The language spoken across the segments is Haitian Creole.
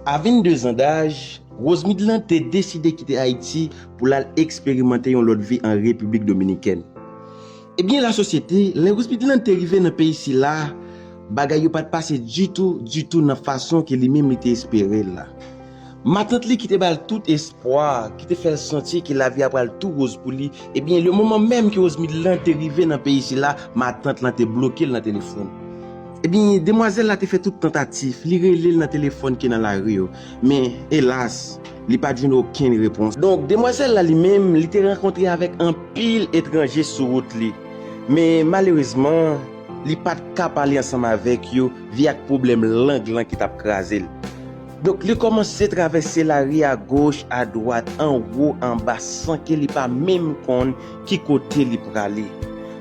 A 22 zan daj, Rose Midland te deside kite Ayiti pou l al eksperimante yon lòt vi an Repiblik Dominikèn. Ebyen lasosyete, lè Rose Midland te rive nan peyi sila, bagay yo pa t pase ditou, ditou nan fason ke li menm li te espere l la. Matant li ki te ba l tout espwa, ki te fè l santi ke lavi a pral tou woz pou li, ebyen le moman menm ke Rose Midland te rive nan peyi sila, matant lan te bloke l nan telefòn. Ebyen, demwazèl la te fè tout tantatif, li rele l nan telefòn ki nan lari yo, men, elas, li pa t jwenn okenn repons. Donk, demwazèl la li menm, li te rankontre avèk anpil etranje sou wout li, men, malerezman, li pa t ka pale ansanm avèk yo vi ak pwoblèm lang lan ki t ap kraze l. Donk, li kòmanse travèse lari agoch, adwat, anwo, anba, san ke li pa menm konn Ki kote li prale?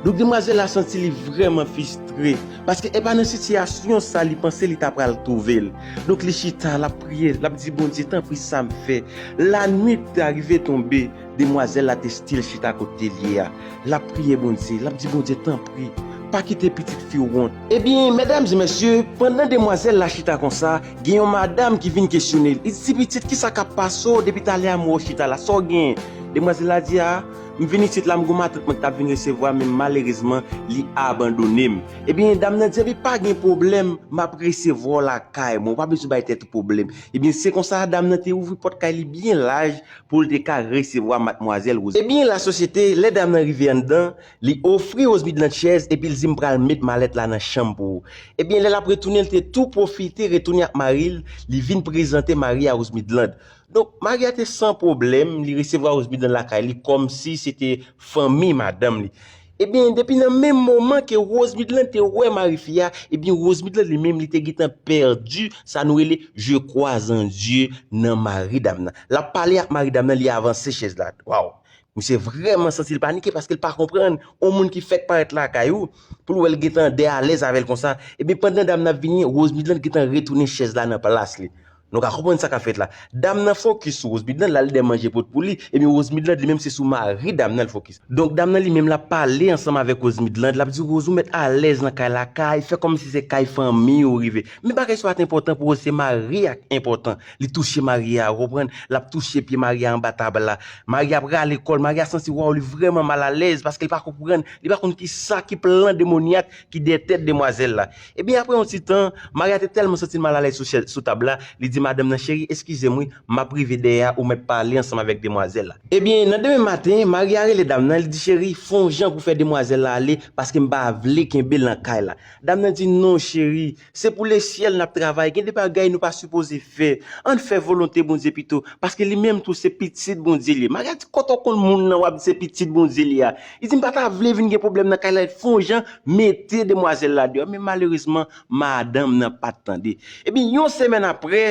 Donk demwazèl la santi li vrèman fistre, paske epa nan sitiyasyon sa li panse li ta pral twouve l. Donk li chita, l ap priye, l ap di Bondye, tanpri sa m fè? Lanwit ta rive tonbe, demwazèl la te stil chita kote l ye a. L ap priye Bondye, l ap di Bondye, tanpri, pa kite pitit fi w wont. Ebyen, medam e mesye, pandan demwazèl la chita konsa, Gen yon madam ki vin kesyone l, li di, Ti pitit, ki sa k ap pase w depi talè a m wè w chita la? Sa w genyen? Demwazèl la di, A, m vin isit la, m gen yon matant mwen ki t ap vin resevwa, men malerezman, li abandone m. Ebyen, dam nan di, Anben, pa gen pwoblèm, m ap resevwa w lakay mwen, ou pa bezwen bay tèt ou pwoblèm. Ebyen, se konsa, dam nan te ouvri pòt kay li byen laj pou l te ka resevwa matmwazèl Rosalie. Ebyen, lasosyete, lè dam nan rive anndan, Li ofri Osby Blanc chèz epi l di m pral met malèt la nan chanm pou ou. Ebyen lè l ap retounen l te tou pwofite retounen ak mari l, li vin prezante mari a Osby Blanc. Donk mari a te san pwoblèm, li resevwa Osby Blanc lakay li kòmsi se te fanmi madanm li. Ebyen depi nan menm moman ke Osby Blanc te wè mari fi a, ebyen Osby Blanc li menm li te gentan pèdi sa nou rele je crois en Dieu nan mari dam nan. L ap pale ak mari dam nan li avanse chèz la. Waww! Misye vrèman santi l panike paske l pa konprann yon moun ki fèk parèt lakay ou pou l wè l gentan de alèz avè l konsa epi pandan dam nan ap vini Rose Midland gentan retounen chèz la nan plas li nou ka konprann sa k ap fèt la dam nan fokis sou Rose Midland l al de manje pot pou li epi Rose Midland li menm se sou mari dam nan l fokis donk dam nan li menm l ap pale ansanm avèk Rose Midland l ap di Rose ou mèt alèz nan kay la kay fè kòmsi se kay fanmi ou rive men bagay sa pat enpòtan pou Rose se mari a k enpòtan Li touche Maria ou konprann, lap touche pye Maria anba tab la. Maria ap rale kòl, Maria santi waww li vrèman mal alèz paske li pa konprann, li pa konn kisa ki plan demonyak ki dèyè tèt demwazèl la. Ebyen aprè yon ti tan, Maria te tèlman santi l mal alèz sou chèz sou tab la, li di madanm nan cheri eskize m wi, map rive dèyè a ou mèt pale ansanm avèk demwazèl la. Ebyen nan demen maten, Maria rele dam nan, li di cheri fon jan pou fè demwazèl la ale paske m pa vle kenbe l nan kay la. Dam nan di non cheri, Se pou lesyèl nap travay gen de bagay nou pa sipoze fè ann fè volonte Bondye pito paske li menm tou se pitit Bondye li ye Maria di kote w konn moun lan wap di se pitit Bondye li a li di m pa ta vle vin gen pwoblèm nan kay la li fon jan mete demwazèl la deyò men malerezman madanm nan pat tande ebyen yon semèn aprè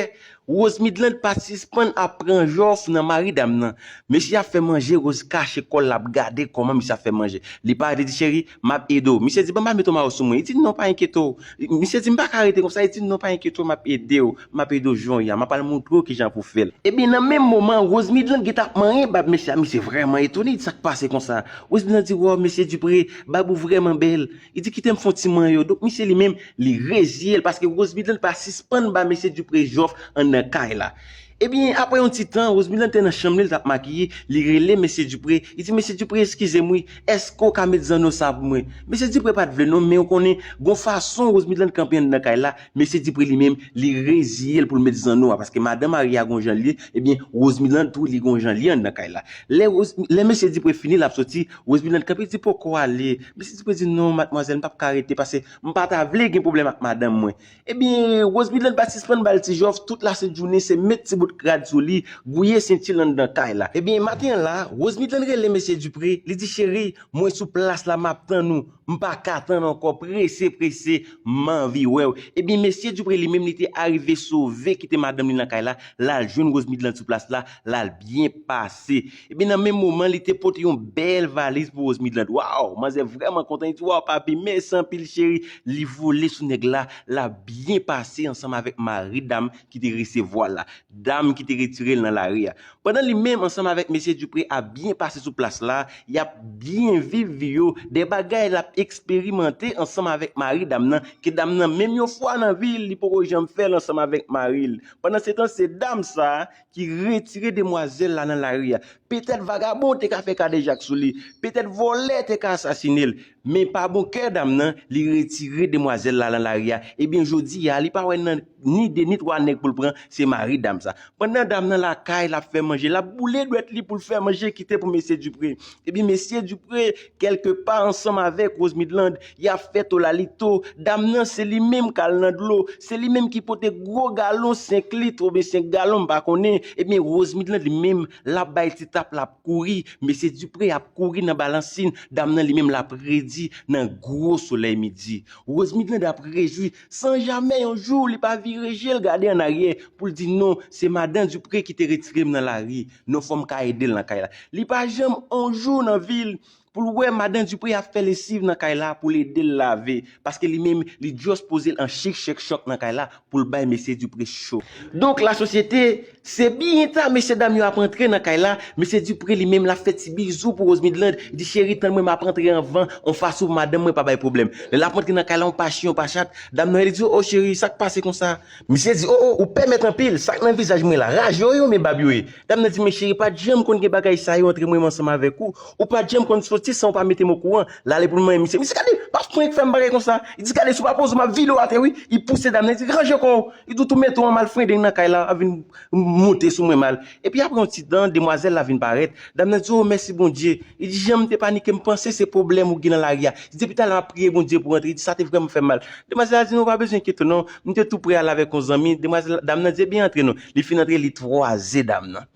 Rose Midland pa sispann ap pran jòf nan mari dam nan. Mesye ap fè manje Rose kache kòl lap gade kòman misye ap fè manje. Li pa rete di cheri, map ede w. Misye di bon ba me tomaw sou mwen. Li di non pa enkyete w. Misye di mpaka rete konsa li di non pa enkyete w map ede w, map ede w jonye a, map al moutre w kijan pou fè l. Ebyen nan menm moman an Rose Midland gentan ap manyen bab mesye a misye vrèman etone li di sak pase konsa. Rose Midland di waw mesye Dupré bab ou vrèman bèl. Li di kite m fon ti manyen yo. Donk misye li menm li reziye l paske Rose Midland pa sispann ba mesye Dupré jòf anndan kay la. Ebyen aprè yon ti tan Rose Midland te nan chanm li l t ap makiye, li rele mesye Dupré, li di mesye Dupré eskize m wi, èske w ka met zanno sa pou mwen? Mesye Dupré pa t vle non men ou konnen gon fason Rose Midland kanpe anndan kay la, mesye Dupré li menm li reziye l pou l met zanno a paske madan marye a gon jan l ye, ebyen Rose Midland tou li gon jan l ye anndan kay la. Lè Rose, lè mesye Dupré fini l ap soti, Roseminald kanpe di poko ale, mesye Dupré di non madmwazèl m pap ka rete pase m pa ta vle gen pwoblèm ak madanm mwen. Ebyen Roseminald pa sispann bal ti jòf tout lasent jounen se met ti bout rad sou li, gouye senti l anndan kay la. Ebyen maten an la, Roseminald rele mesye Dupré, li di cheri mwen sou plas la map tann ou, m pa ka tann ankò prese prese m anvi wè w. Ebyen mesye Dupré li menm li te arive sove kite madanm li nan kay la, lal jwenn Roseminald sou plas la, lal byen pase. Epi nan menm moman li te pote yon bèl valiz pou Rose Midland. Waww, manzè vrèman kontan, li di waww papi, mèsi anpil cheri. Li vole sou nèg la, l ap byen pase ansanm avèk mari dam ki te resevwa l la, dam ki te retire l nan lari a. Pandan li menm ansanm avèk mesye Dupré ap byen pase sou plas la, y ap byen viv vi yo, de bagay l ap eksperimante ansanm avèk mari dam nan, ke dam nan menm yon fwa nan vi l, li poko janm fè l ansanm avèk mari l. Pandansetan se dam sa ki retire demwazèl la nan lari a. Petèt vagabon te ka fè kadejak sou li, petèt vòlè te ka asasine l, men pa bon kè dam nan, li retire demwazèl la nan lari a, ebyen jodi a li pa wè nan ni 2 ni 3 nèg pou l pran, se mari dam sa. Pandan dam nan lakay l ap fè manje, l ap boule dwèt li pou l fè manje kite pou mesye Dupré. Ebyen mesye Dupré kèlke pa ansanm avèk Rose Midland Ya fè to lalito, dam nan se li menm kal nan dlo, se li menm ki pote gwo galon 5 lit oubyen 5 galon m pa konnen, ebyen Rosemead lan li menm lap bay ti tap lap kouri, mesye Dupré ap kouri nan balansin, dam nan li menm lap redi nan gwo solèy midi. Rosemead lan ap rejwi san jamè yon jou li pa vire je l gade an aryè poul di non se madan Dupré ki te retire m nan lari non fòm ka ede l nan kay la. Li pa janm on jou nan vi l Poul wè madan Dupré ap fè lesiv nan kay la poul edel lave paske li menm li just pozel an chik chek chòk nan kay la poul bay mesye Dupré cho. Donk la sosyete Se byen ta mesye dam yo ap antre nan kay la, mesye Dupré li menm lap fè ti bizou pou Rose Midland, li di cheri tann mwen map antre anvan on fason pou madanm mwen pa bay pwoblèm. Lè lap antre nan kay la on pa chyen on pa chat, dam nan rele li di oh cheri sak pase konsa, Misye di, O, o, ou pèmèt anpil, sa k nan vizaj mwen la, raj yo ye oubyen bab yo ye? Dam nan di, Men cheri, pa t janm konn gen bagay sa yo antre mwen menm ansanm avèk ou, ou pa t janm konn soti san ou pa mete m okouran, l ale pou l manyen misye. Misye gade, pa frenk fè m bagay konsa, li di, Gade, si w pa poze w m ap vide w atè wi, li pouse dam nan, li di, Ranje kò w, li di, w tou mete w an malfrendeng nan kay la, ap vin monte sou mwen mal. Epi apre yon ti tan, demwazèl la vin parèt. Dam nan di, O, mèsi Bondye! Li di, Jan m te panike, m panse se pwoblèm ou gen nan lari a. Li di, Depi talè m ap priye Bondye pou rantre. Li di, Sa te vrèman fè m mal. Demwazèl la di, Non, ou pa bezwen enkyete w non. M te tou pre al avèk yon zanmi. Demwazèl la, dam nan di, Ebyen, antre non. Li fin antre, li twaze dam nan.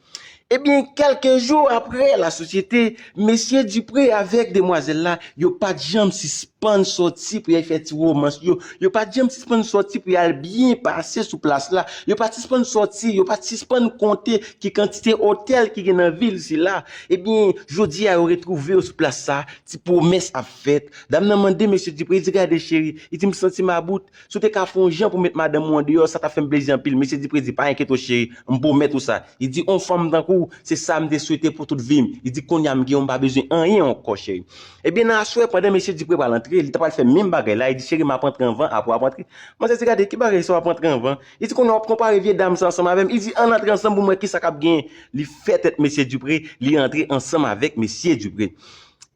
Ebyen, kèlke jou apre, lasosyete. Mesye Dupré avèk demwazèl la, yo pa t janm sispann sòti pou y al fè ti womans yo, yo pa t janm sispann sòti pou y al byen pase sou plas la, yo pa t sispann sòti, yo pa t sispann konte ki kantite otèl ki gen nan vil sila. Ebyen, jodi a yo retwouve yo sou plas sa, ti pwomès ap fèt. Dam nan mande Mesye Dupré, li di gade cheri, li di m santi m about, Si w te ka fè yon jan pou met madanm ou andeyò, sa t ap fè m plezi anpil. Mesye Dipré di, Pa enkyete w cheri, m pwomèt ou sa. Li di, Yon fanm tankou w, se sa m te swete pou tout vi m. Li di, Kounye a m gen w, m pa bezwen anyen ankò, cheri. Ebyen, nan aswè, pandan mesye Dipré pral antre, li t apral fè menm bagay la, li di, Cheri, m ap antre anvan, apre w ap antre. Manzè di, Gade, ki bagay sa w ap antre anvan? Li di, Kounye a w ap konpare vye dam sa ansanm avè m. Li di, Ann antre ansanm pou m wè ki sa k ap genyen. Li fè tèt mesye Dipré, li antre ansanm avèk mesye Dipré.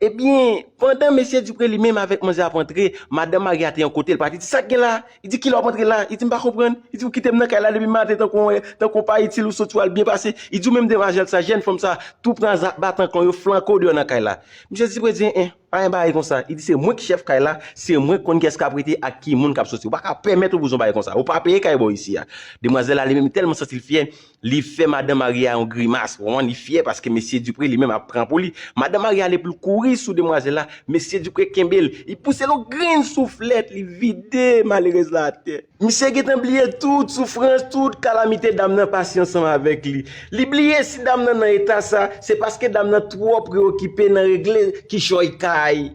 Ebyen, pandan Mesye Dupré li menm avèk manzè ap antre, Madan Mari a te yon kote, li pati di, Sak gen la? Li di, Kilè w ap antre la? Li di, M pa konprann. Li di, Ou kite m nan kay la depi maten tankou w, tankou w pa itil, ou soti w al byen pase. Li di, Ou menm demwazèl sa, jèn fanm sa, tou pran zak batan kan w yo, flanke w deyò nan kay la. Misye Dupré di, En en, pa gen bagay konsa. Li di, Se mwen ki chèf kay la, se mwen k konn kiyès k ap rete ak ki moun k ap soti. Ou pa ka pèmèt yon bouzon bagay konsa. Ou pa peye kay bò isi a. Demwazèl la li menm li tèlman santi l fyè, Li fè madan marye a yon grimas, w konprann, li fyè paske mesye Dupré li menm ap pran pou li. Madan marye a ale pou l kouri sou demwazèl la, mesye Dupré kenbe l, li pouse l yon grenn souflèt, li vide malerèz la atè. Misye gentan bliye tout soufrans, tout kalamite dam nan pase ansanm avèk li. Li bliye si dam nan nan eta sa, se paske dam nan twò preyokipe nan regle kichòy kay.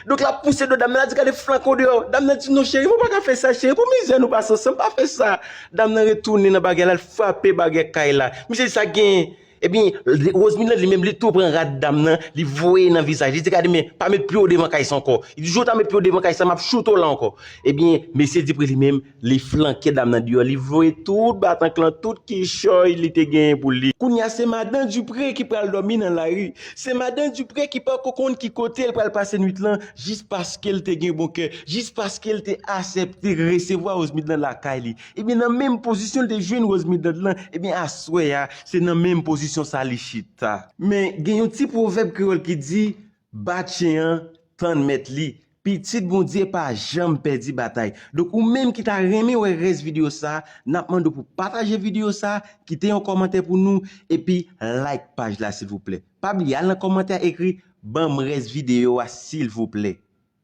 Donk lap pouse do dam nan, lap di gade flank ou deyò. Dam nan di non cheri mwen paka fè sa cheri pou mizè nou pase ansanm pa fè sa. Dam nan retounen nan bagay la, l frape bagè kay la. Misye di sak genyen? Ebyen Roseline lan li menm li tou pran rad dam nan, li voye nan vizaj li, li di gade men pa met pye w devan kay sa ankò. Jou w ta met pye w devan kay sa map choute w la ankò. Ebyen mesye di pri li menm Li flanke dam nan deyò, li voye tout batankk lan, tout kichòy li te genyen pou li. Kounye a se madan Dupré ki pral dòmi nan lari, se madan Dupré ki pako konn ki kote l pral pase nwit lan jis paske l te gen bon kè, jis paske l te asèpte resevwa Rose Midland lakay li. Ebyen nan menm pozisyon l te jwenn Rose Midland lan, ebyen aswè a se nan menm pozisyon sa li chita. Men gen yon ti pwovèb kreyòl ki di, Bat chen an tann mèt li. Pitit Bondye pa janm pèdi batay. Donk ou menm ki ta renmen wè rès video sa, nap mande w pou pataje video sa, kite yon kòmantè pou nou, epi like paj la silvouplè. Pa bliye al nan kòmantè a ekri banm rès video a silvouplè.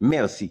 Merci.